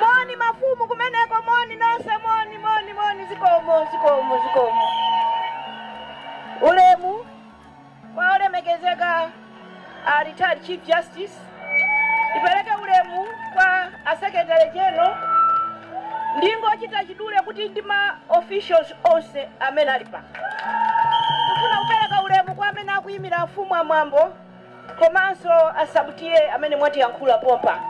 moni mafumu kumeneko moni nonse moni moni moni zikomo zikomo zikomo ulemu kwa olemekezeka a retired chief justice ndipereke ulemu kwa a secretary general ndingochita chidule kuti ndi ma officials onse amene ali pa kufuna kupereka ulemu kwa amene akuyimira afumu amwambo komanso a sub TA amene mwatiyankhula pompa.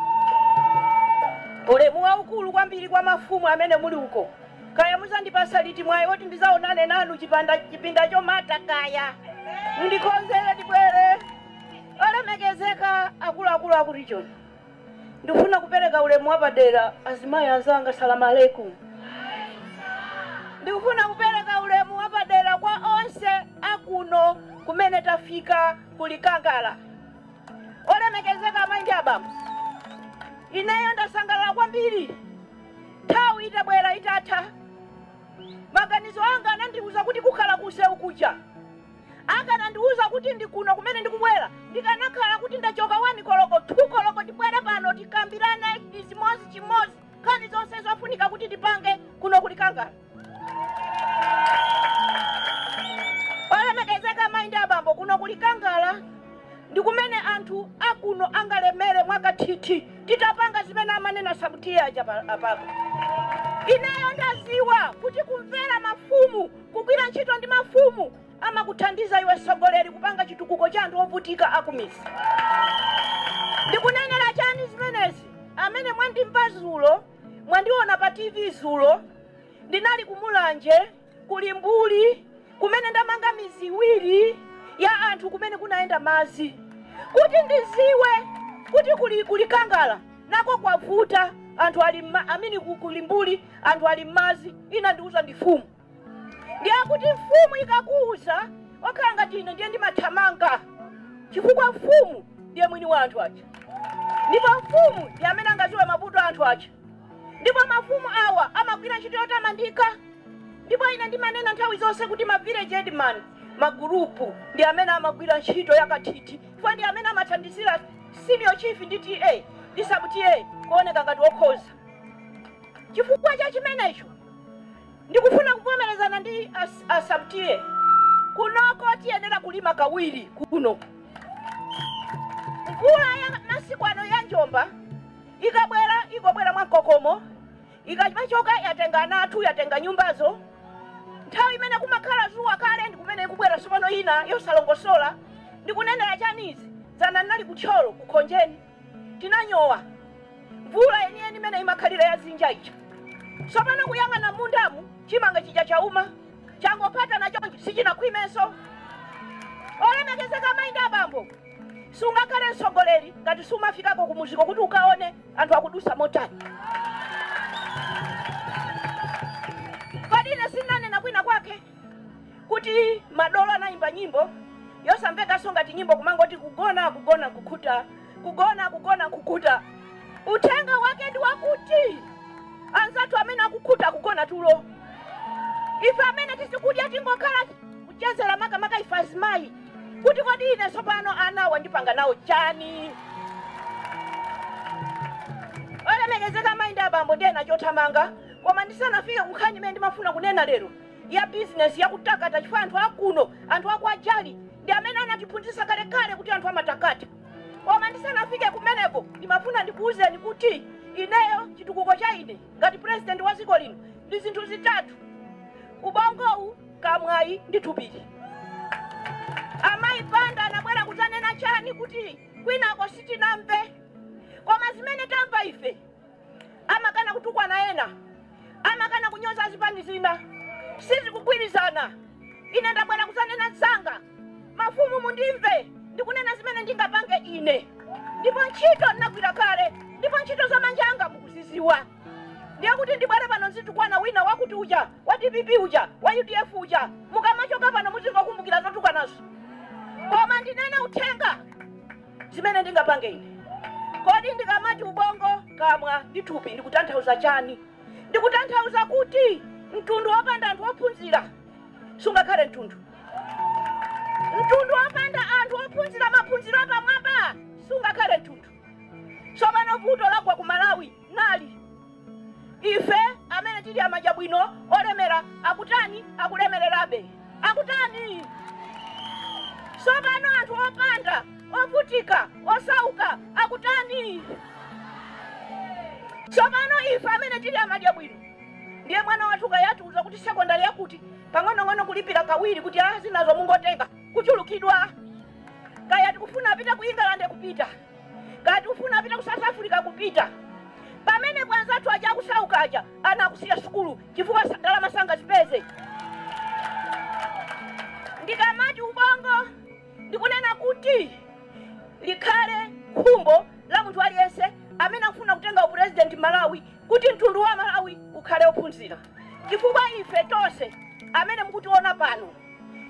Ulemu waukulu kwambiri kwa mafumu amene muli uko. Kaya muzandipasa liti mwayi oti ndizaonane nanu chipinda chomata kaya. Mundikonzere ndibwere. Olemekezeka akuluakulu akutchoni. Ndikufuna kupereka ulemu wapadera kwa azimayi anzanga Salam alaikum. Ndikufuna kupereka ulemu wapadera kwa onse a kuno kumene tafika ku Likangala. Olemekezeka amayi ndi abambo, ineyo ndasangalala kwambiri nthawi itabwera itatha. Maganizo anga anandiuza kuti kukhala ku nsewu kuja. Akanandiuza kuti ndi kuno kumene ndikubwera, ndikanakhala kuti ndachoka 1 koloko, 2 koloko ndibwere pano tikambirane chimodzichimodzi nkhani zonse zofunika kuti ndipange kuno ku Likangala. Olemekezeka amayi ndi abambo, kuno ku Likangala ndi kumene anthu a kuno angalemere mwakathithi titapanga zimene amanena Sub TA aja apapa. Ineyo ndadziwa kuti kumvera mafumu Kugwira ntchito ndi mafumu amakuthandiza iwe mtsogoleri kupanga chitukuko cha anthu ovutika akumizi. Ndikunenera chani zimenezi? Amene mwandimva zulo, mwandiona pa TV zulo, ndinali ku Mulanje, ku Limbuli kumene ndamanga mizi iwiri ya anthu kumene kunayenda madzi kuti ndiziwe kuti kuli ku Likangala. nako kwavuta anthu ali mma amini ku, ku limbuli anthu ali mmazi inandiuza ndi mfumu ndiye kuti mfumu ikakuuza okhala ngati ine ndiye ndimathamanga chifukwa mfumu ndiye mwini wa anthu aja ndipo mfumu ndi amene angaziwe mavuto a anthu aja ndipo mafumu awa amagwira ntchito yotamandika ndipo ine ndimanena nthawi zonse kuti ma village headman magurupu ndi amene amagwira ntchito yakathithi chifukwa ndi amene amathandizira Senior Chief ndi TA ndi Sub TA kuoneka ngati okhoza. Chifukwa cha chimenecho, ndikufuna kuvomerezana ndi a, a Sub TA kunoko tiyenera kulima kawiri kuno. Mvula ya masiku ano ya njomba ikabwera ingobwera mwamkokomo Ikachoka yatenga ana athu, yatenga nyumbazo. Nthawi imene kumakhala zuwa kale ndi kumene ikubwera tsopano yina yosalongosola. Ndikunenera chani izi? Dzana ndinali ku Thyolo, ku Khonjeni. Tinanyowa. Mvula yeniyeni imene imakhalira ya dzinja ija. Tsopano kuyang'ana m'mundamu, chimanga chija chauma. Changophatana chonchi, sichinakhwimenso. Olemekezeka amayi ndi abambo, sungakhale mtsogoleri ngati sumafikako kumuziko kuti ukaone. anthu akudutsa motani kodi ine sinanena kwina kwake kuti madolo anayimba nyimbo yosamvekanso ngati nyimbo kumangoti kugona kugona nkukhuta kugona kugona nkukhuta uthenga wake ndi wakuti anzathu amene akukhuta kugona tulo ife amene tisikudya tingokhala kuchezera makamaka ife azimayi kuti kodi ine tsopano anawa ndipanga nawo chani olemekezeka amayi ndi abambo ndiyenda chothamanga koma ndisanafike kunkhani imene ndimafuna kunena lero ya bizinesi yakutakata chifukwa anthu akuno anthu akwa jali ndi amene anatiphunzitsa kalekale kuti anthu amatakata koma ndisanafike kumeneko ndimafuna ndikuwuzeni kuti ineyo chitukuko cha ine ngati purezidenti wa dziko lino ndi zinthu zitatu ubongowu kamwayi ndi thupili. Amayi Banda anabwera kudzanena chani kuti kwinako sitinamve koma zimene tamva ife? Amakana kutukwana ena, amakana kunyoza azipani zina. Sizikugwirizana. Ine ndabwera kudzanena zanga. Mafumu mundimve ndikunena zimene ndingapange ine ndipo ntchito ndinagwira kale ndipo ntchito za manja anga mukuzidziwa. ndiye kuti ndibwere pano nzitukwana wina wakuti uja wa dpp uja wa udf uja mukamachoka pano muzingokumbukira zotukwanazo koma ndinene uthenga zimene ndingapange ine kodi ndikamati ubongo kamwa ndi thupi ndikutanthauza chani ndikutanthauza kuti mtundu wopanda anthu ophunzira sungakhale mtundu mtundu wopanda anthu ophunzira maphunziro apamwamba sungakhale mtundu tsopano vuto lagwa ku malawi nali. Ife amene tili amadya bwino olemera akutani? Akulemererabe. Akutani? Tsopano anthu opanda, ovutika, osauka akutani? Tsopano ife amene tili amadya bwino ndiye mwana wathu kaya atiuza kuti sekondari yakuti pang'onong'ono kulipira kawiri kuti a zinazo mungotenga kuchulukidwa kaya tikufuna apite ku England kupita Ngati ufuna apite ku South Africa kupita. Pamene anzathu aja akusauka aja ana akusiya sukulu chifukwa sa- ndalama sangazipeze. Ndikamati ubongo ndikunena kuti likhale khumbo la munthu aliyense amene akufuna kutenga upurezidenti Malawi kuti mtundu wa Malawi ukhale ophunzira, chifukwa ife tonse amene mukutiona pano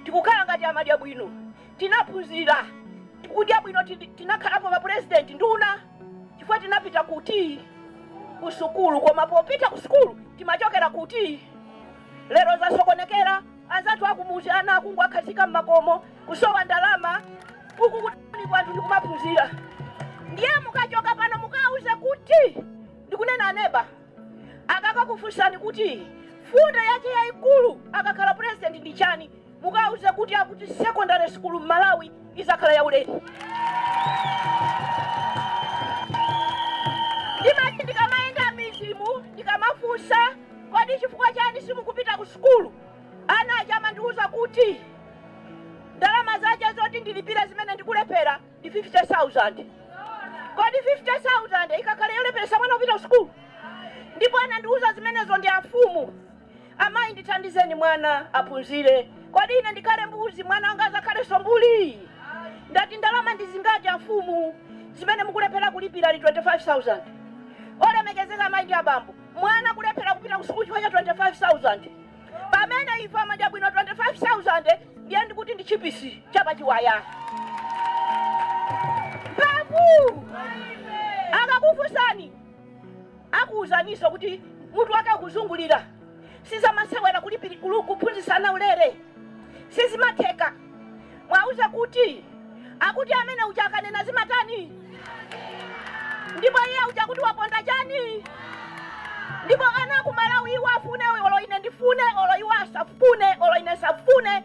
tikukhala ngati amadya bwino tinaphunzira, tikudya bwino, tinakhalapo ma pulezidenti, nduna chifukwa tinapita kuti? Ku sukulu. Koma popita ku sukulu timachokera kuti? Lero zasokonekera, anzathu a kumudzi ana akungowakhazika m'makomo, kusowa ndalama, uku ku tauniku anthu ndi kumaphunzira. Ndiye mukachoka pano mukawauze kuti ndikunena aneba, akakakufunsani kuti mfundo yache yaikulu akakhala pulezidenti ndi chani? Mukauze kuti akuti secondary school Malawi izakhala yaulere. Ndimati ndikamayenda m'midzimu ndikamafunsa kodi chifukwa chani simukupita ku sukulu ana aja amandiuza kuti ndalama zache zoti ndilipire zimene ndikulephera ndi 50000 kodi 50000 ikakhale yolepheresa mwana kupita ku sukulu ndipo anandiuza zimenezo ndi amfumu Amayi, ndithandizeni mwana aphunzire. Kodi ine ndikhale mbuzi, mwana wanga adzakhalenso mbuli? Ndati, Ndalama ndi zingati amfumu zimene mukulephera kulipira? Ali 25,000. Olemekezeka amayi ndi abambo, mwana kulephera kupita kusukulu chifukwa cha 25,000? Pamene ife amadya bwino 25,000 ndiye ndikuti ndi tchipisi cha pachiwaya. Mphamvu! Akakufunsani Akuwuzaninso kuti mutu wake ukuzungulira. Sizamasewera kulipili kuphunzitsa ana ulere. Sizimatheka. Mwauza kuti akuti amene uja akanena zimatani? Ndipo iye uja akuti waponda chani? Ndipo ana ku Malawi iwo afune olo ine ndifune olo iwo asafune olo ine ndisafune.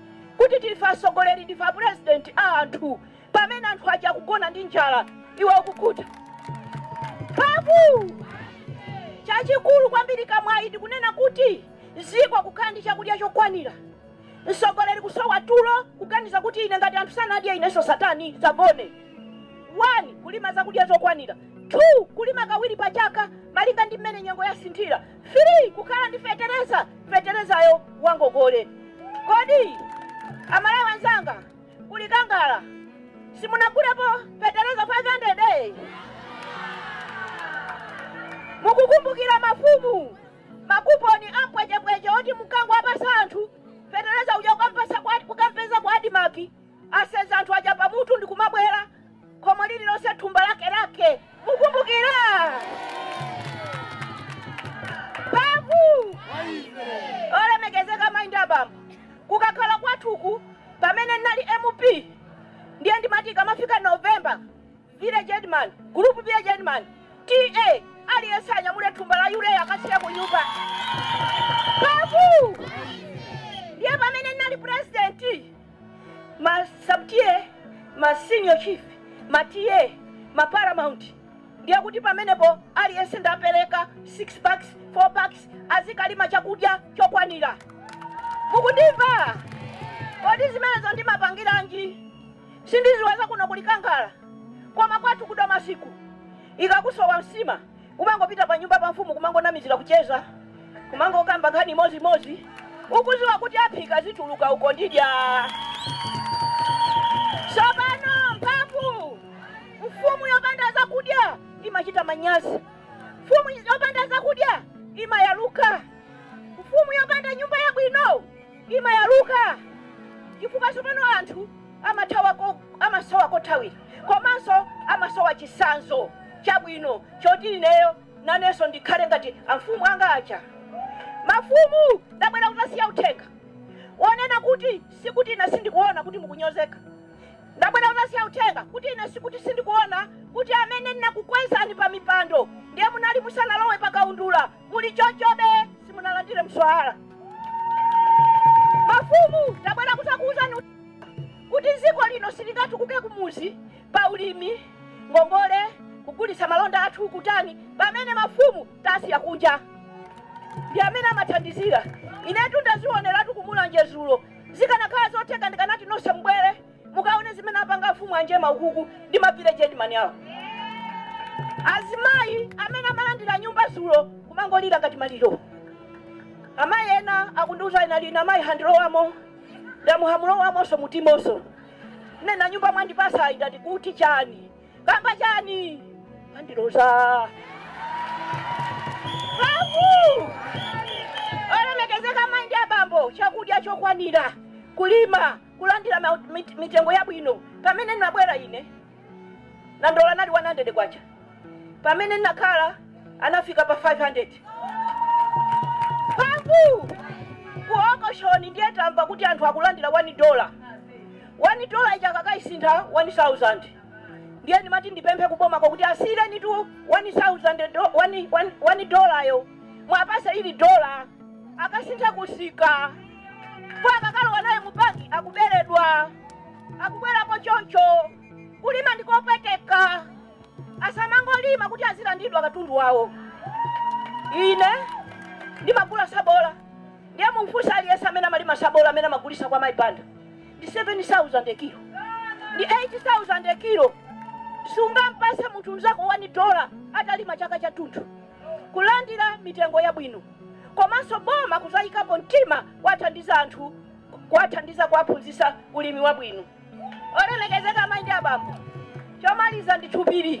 kuti ndife asogoleli ndife apresident a anthu pamene anthu aja akugona ndi njala iwe ukukhuta mphamvu chachikulu kwambiri kamwayi ndikunena kuti ziko kukhala ndi chakudya chokwanira msogoleli kusowa tulo kuganiza kuti ine ngati anthu sanadye inenso satani sazagone 1 kulima zakudya zokwanira 2 kulima kawiri pa chaka malinga ndi mmene nyengo yasinthira 3 kukhala ndi fetereza, feterezayo wangogole. Kodi amalawi anzanga ku Likangala simunagulepo fetereza 500? Mukukumbukira mafumu makuponi a mpwechepweche oti mukangowapasa anthu fetereza uja kukampeza kwa adimaki aseza anthu aja pamutu ndikumabwera khomo lililonse thumba lake lake mukumbukira babu olemekezeka amayi ndi abambo kukakhala kwathu ku pamene ndinali mp ndiye ndimati ikamafika novemba village headman group village headman TA aliyense anyamule thumba la yuleya akasiya ku nyumba babu ndiye pamene ndinali president ma sub-TA ma senior chief ma TA ma paramount ndiye kuti pamenepo aliyense ndapereka 6 bags 4 bags azikalima chakudya chokwanira mukundimva kodi zimenezo ndimapangiranji sindiziwa za kuno kuli kangala koma kwathuku tima masiku ikakusowa nsima Kumangopita pa nyumba pa mfumu kumangonamizila kucheza kumangokamba nkhani imozi imozi ukuziwa kuti aphika zituluka uko ndidya sopano mphamvu mfumu yopanda zakudya imachita manyazi mfumu yopanda zakudya imayaluka mfumu yopanda nyumba yabwino imayaluka chifukwa tsopano anthu amathawa ko- amasowa kothawira komanso amasowa chisanzo chabwino choti ineyo nanenso ndikhale ngati amfumu anga aja mafumu ndabwera kuzasiya uthenga wonena kuti sikuti ine sindikuona kuti mukunyozeka ndabwera kuzasiya uthenga kuti ine sikuti sindikuona kuti amene ndinakukwezani pa mipando ndiye munali musanalowe pa kaundula muli chonchobe simunalandire mswahala mafumu tabwera kuzakuwuzani kuti dziko lino silingatukuke kumuzi pa ulimi ngongole kugulitsa malonda athu kutani pamene mafumu tasiya kunja ndi amene amathandizira inetu ndazioneratu kumulanje dzulo zikanakhala zotheka ndikanati nonse mubwere Mukaone zimene apanga amfumu anjema ukuku ndi ma village headman awo. Azimayi amene amalandira nyumba dzulo kumangolira ngati maliro. Amayi ena akundiuza ina ina amayi handilowamo ndamuhamulowamonso mutimonso nena nyumba mwandipasayi ndati kuti chani kamba chani akundiloza Babu! olemekezeka amayi ndi abambo chakudya chokwanira kulima kulandira ma, mit, mitengo yabwino pamene ndinabwera ine nandolo anali 100 kwacha pamene ndinakhala anafika pa 500 babu ku okoshoni ndiye tamva kuti anthu akulandira 1 dola 1 dola ija akakaisintha 1000 ndiye ndimati ndipemphe kubomako kuti asinthirenitu 1000 do- one- one- one dolayo muwapase ili dola akasintha kusika kwa akakalowa naye mupaki akuberedwa akubwerapo choncho kulima ndikopweteka asamangolima kuti azilandidwa katundu wawo ine ndimagula sabola ndiye mumfunsa aliyense amene amalima sabola amene amagulisa kwa Mayi Banda ndi 7000 kilo ndi 8000 kilo sungampase munthu mzako 1 dola atalima chaka chathunthu kulandira mitengo yabwino komanso boma kuzaikapo mtima kuwathandiza anthu kuwathandiza kuwaphunzisa ulimi wabwino. Olemekezeka amai ndi abambo, chomaliza ndi two pillar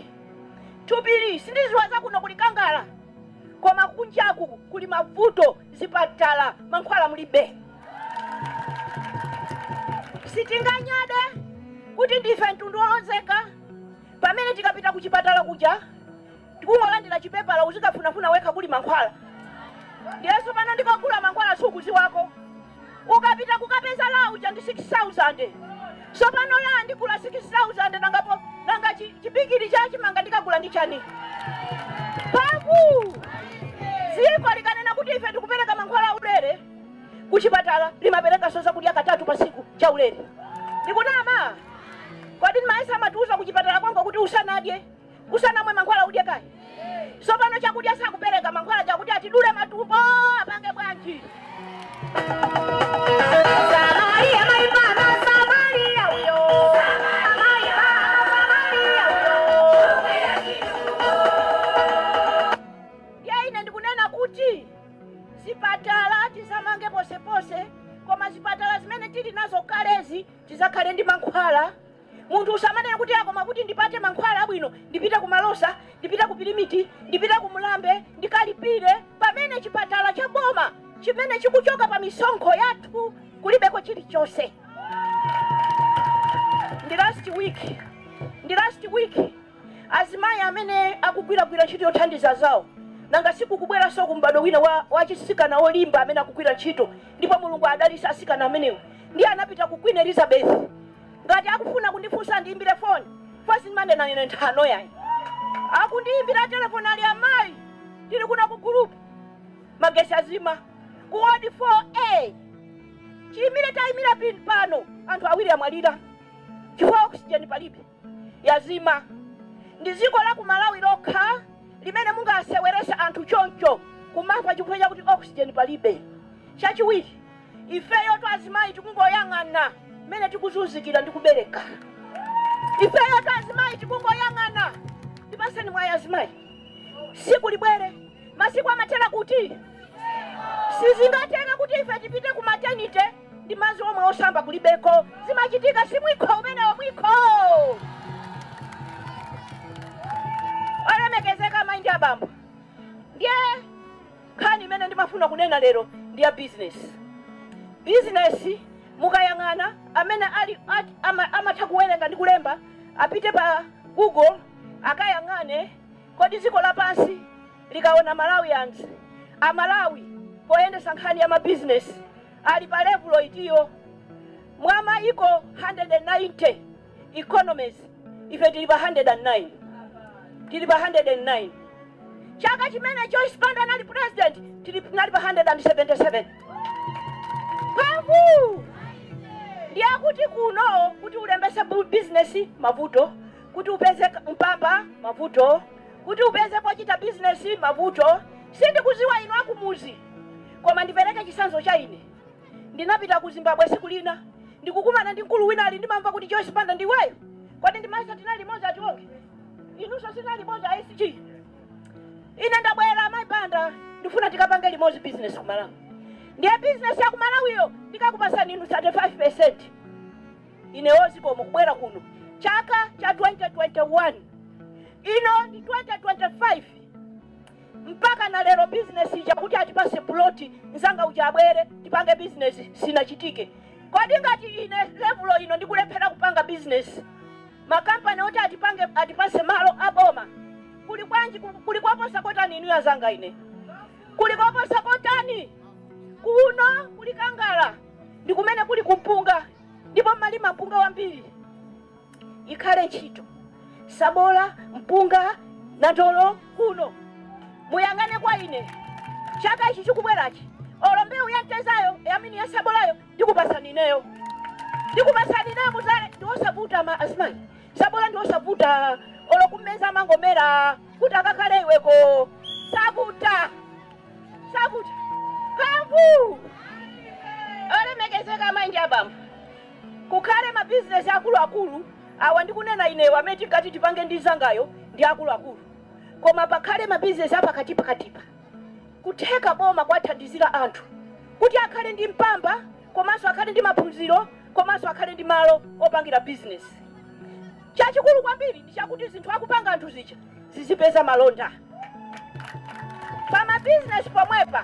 two pillar sindiziwa zakuno kuli kaya koma kunjaku kuli mavuto zipatala mankhwala mulibe. Sitinganyade kuti ndife mtundu olozeka pamene tikapita kuchipatala kuja tikungolandira chipepala uzikafunafuna wekha kuli mankhwala ndiye tsopano ndikogula mankhwala sukuziwako ukapita kukapeza la uja ndi 6000 tsopano la ndigula 6000 nanga chibigiri cha chimanga ndikagula ndi chani paku dziko likanena kuti ife tikupereka mankhwala aulere kuchipatala limaperekanso zakudya katatu patsiku cha ulere ndikunama kodi ndimayesa amatiuza kuchipatala kwangu kuti usanadye usanamwe mankhwala udye kaye sopano chakudya sakupereka mankhwala chakuti atidule matumbo apange bwanji Samaria, maimana, Samaria, uyo. Samaria, Samaria, uyo. ndiye ine ndikunena kuti zipatala tizamange ponseponse koma zipatala zimene tili nazo kalezi tizakhale ndi mankhwala Munthu usamanena kuti a koma kuti ndipate mankhwala abwino ndipite ku Malosa, ndipite ku Pirimiti, ndipite ku Mlambe ndikalipire pamene chipatala cha boma chimene chikuchoka pa misonkho yathu kulibeko chilichonse. Ndi last week, ndi last week azimayi amene akugwiragwira ntchito yothandiza anzawo, nanga si kukubweransoku m'bado wina wa, wa achisikana olimba amene akugwira ntchito ndipo Mulungu adalitse asikana amenewo, ndiye anapita ku Queen Elizabeth Ngati akufuna kundifunsa andiimbire foni fasiti sindimanena ine nthano yayi. Akundiimbira telefoni ali amayi tili kuno ku gulupu magetsi azima ku wodi 4A. Chiimire taimira pano anthu awiri amwalira chifukwa oxygen palibe yazima. Ndi dziko la ku Malawi lokha limene mungaseweretse anthu choncho kumafa chifukwa chakuti oxygen palibe. Chachiwiri. Ifeyotu azimayi tikungoyang'ana mmene tikuzunzikira ndi kubereka. Ifeyotu azimayi tikungoyang'ana. Tipaseni mwayi azimayi. Siku libwere. Masiku amathera kuti? Sizingatheke kuti ife tipite ku maternity ndi madzi omwe osamba kulibeko. Zimachitika si mwikho umenewo mwikho. Olemekezeka amayi ndi abambo. Ndiye Nkhani imene ndimafuna kunena lero ndi ya bizinesi. Bizinesi, mukayang'ana amene ali a amatha kuwerenga ndi kulemba apite pa Google akayang'ane kodi dziko lapansi likaona Malawians, a Malawi poyendetsa nkhani ya mabizinesi ali pa levulo itiyo mwa maiko 190. economies ife tili pa 109 tili pa 109 chaka chimene joyce banda anali president tili tinali pa 177 mphamvu ndiye kuti kuno kuti ulembese bu- business mavuto kuti upeze k- mpamba mavuto kuti upeze pochita business mavuto sindikuziwa inu akumuzi koma ndipereke chisanzo cha ine Ndinapita ku Zimbabwe tsiku lina ndikukumana ndi mkulu wina ali ndimamva kuti Joyce Banda ndi iweyo? Kodi ndimayesa tinali limodzi a Tionge? Inunso sinali limodzi a SG. Ine ndabwera amayi Banda ndifuna tikapange limodzi business ku Malawi. Ndiye business ya ku Malawiyo ndikakupasani inu 35%. Ine oo zikomo kubwera kuno chaka cha 2021 ino ndi 2025 mpaka na lero business ija kuti atipase plot mzanga uja abwere tipange business sinachitike kodi ngati ine levulo ino ndikulephera kupanga business makampani oti atipange atipase malo aboma kuli kwanji ku- kuli koposa kotani inuyo azanga ine kuli koposa kotani kuno ku Likangala ndi kumene kuli kumpunga ndipo mmalima mpunga wambiri ikhale ntchito sabola mpunga nandolo kuno muyang'ane kwa ine chaka ichi chikubwerachi olo mbewu ya mtezayo I mean ya sabolayo ndikupasani ineyo ndikupasani ineyo muzale ndiwosavuta ma azimayi sabola ndiwosavuta olo kumeza amangomera kuti akakhale iweko savuta savuta mphamvu olemekezeka amayi ndi abambo Kukhale ma business akulu akulu awa ndikunena inewa amene tinkati tipange ndi nzangayo ndi akulu akulu koma pakhale ma business apakati pakatipa kutheka boma kwathandizila anthu kuti akhale ndi mpamba komanso akhale ndi maphunziro komanso akhale ndi malo opangila business chachikulu kwambiri ndichakuti zinthu akupanga anthu zija zizipeza malonda pa ma business pomwepa.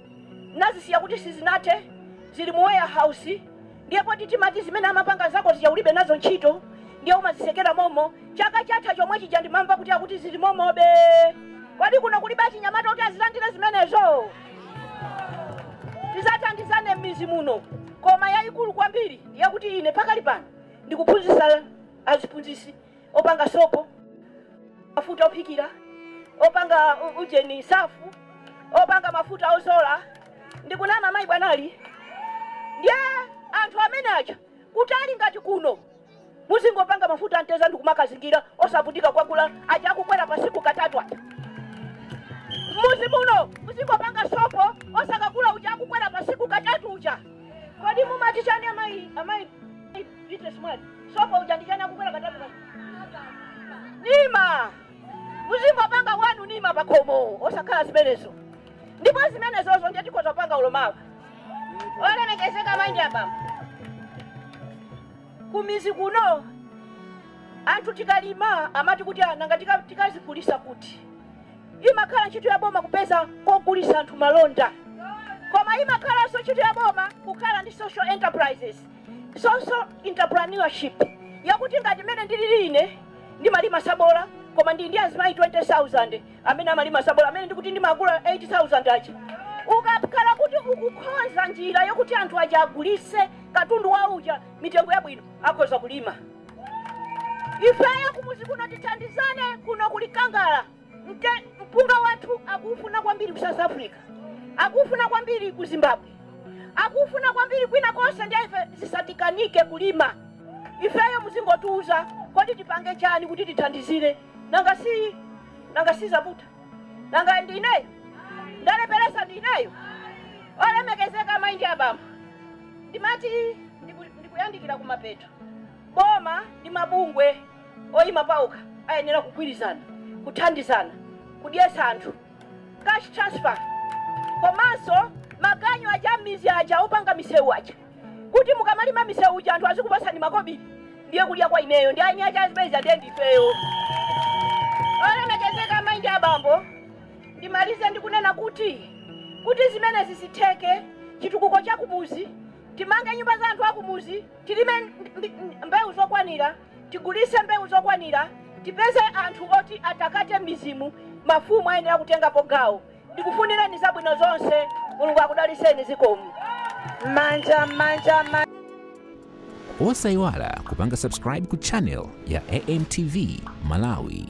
nazisiya kuti sizinathe zili mu warehouse ndiye poti timati zimene amapanga nzako zija ulibe nazo ntchito ndiye umazisekera momo chaka chatha chomwe chija ndimamva kuti akuti zili momobe kodi kuno kulibe achinyamata kuti azilandire zimenezo tizathandizane m'mizi muno koma yayikulu kwambiri ndi yakuti ine pakali pano ndikuphunzitsa aziphunzitsi opanga sopo, mafuta ophikira, opanga ujeni, safu, opanga mafuta ozola. Ndikunama mayi bwanali? Ndiye anthu amene aja kutali ngati kuno muzingopanga mafuta amteza ndikumakazingira osavutika kukagula aja akukwera pasiku katatu aja muzi muno muzingopanga sopo osakagula uja akukwera pasiku katatu uja kodi mumati chani amayi amayi Beatrice Mwale? sopo uja ndi chani akukwera katatu pa- nima muzingopanga wanu nima pakhomo osakhala zimenezo ndipo zimenezozo ndiye tikhoza kupanga olo mawa olemekezeka amayi ndi abambo kumizi kuno anthu tikalima amati kuti nanga tikazigulisa kuti imakhala ntchito ya boma kupeza kogulisa anthu malonda koma imakhalanso ntchito ya boma kukhala ndi social enterprises Social entrepreneurship yakuti ngati mmene ndilili ine ndimalima sabola koma ndili ndi azimayi 20,000 amene amalima sabola amene ndikuti ndimagula 8,000 aja. Ukakhala kuti ukukonza njira yokuti anthu aja agulise katundu wawo uja mitengo yabwino akhoza kulima. Ifeyo kumuzi kuno tithandizane kuno kuli Kangala. Mpunga wathu akuufuna kwambiri ku South Africa, akuufuna kwambiri ku Zimbabwe, akuufuna kwambiri kwina konse ndiye ife zisatikanike kulima ifeyo. Muzingotiuza kodi tipange chani kuti tithandizire? Nanga si, nanga si zavuta? Nanga ndi ineyo ndalepheresa? Ndi ineyo olemekezeka amayi ndi abambo, ndimati ndiku, ndikuyandikira kumapeto. Boma ndi mabungwe. Oyima paokha ayenera kugwirizana, kuthandizana kudyetsa anthu. Cash transfer komanso maganyu aja a m'mizi aja opanga misewu aja kuti mukamalima misewu uja anthu azikupatsani makobili ndiye kudya kwa ineyo ndi aeni ache a zimenezi ndiye ndifeyo. Olemekezeka amayi ndi abambo, ndimalize ndi kunena kuti, kuti zimenezi zitheke, chitukuko cha kumudzi, timange nyumba za anthu a kumudzi, tilime mbewu zokwanira, Tigulise mbewu zokwanira, tipeze anthu oti atakate m'mizimu, mafumu ayenera kutengapo gawo. Ndikufunireni zabwino zonse. Mulungu akudaliseni. Zikomo. Manja manja manja. Osaiwala kupanga subscribe ku channel ya AMTV Malawi.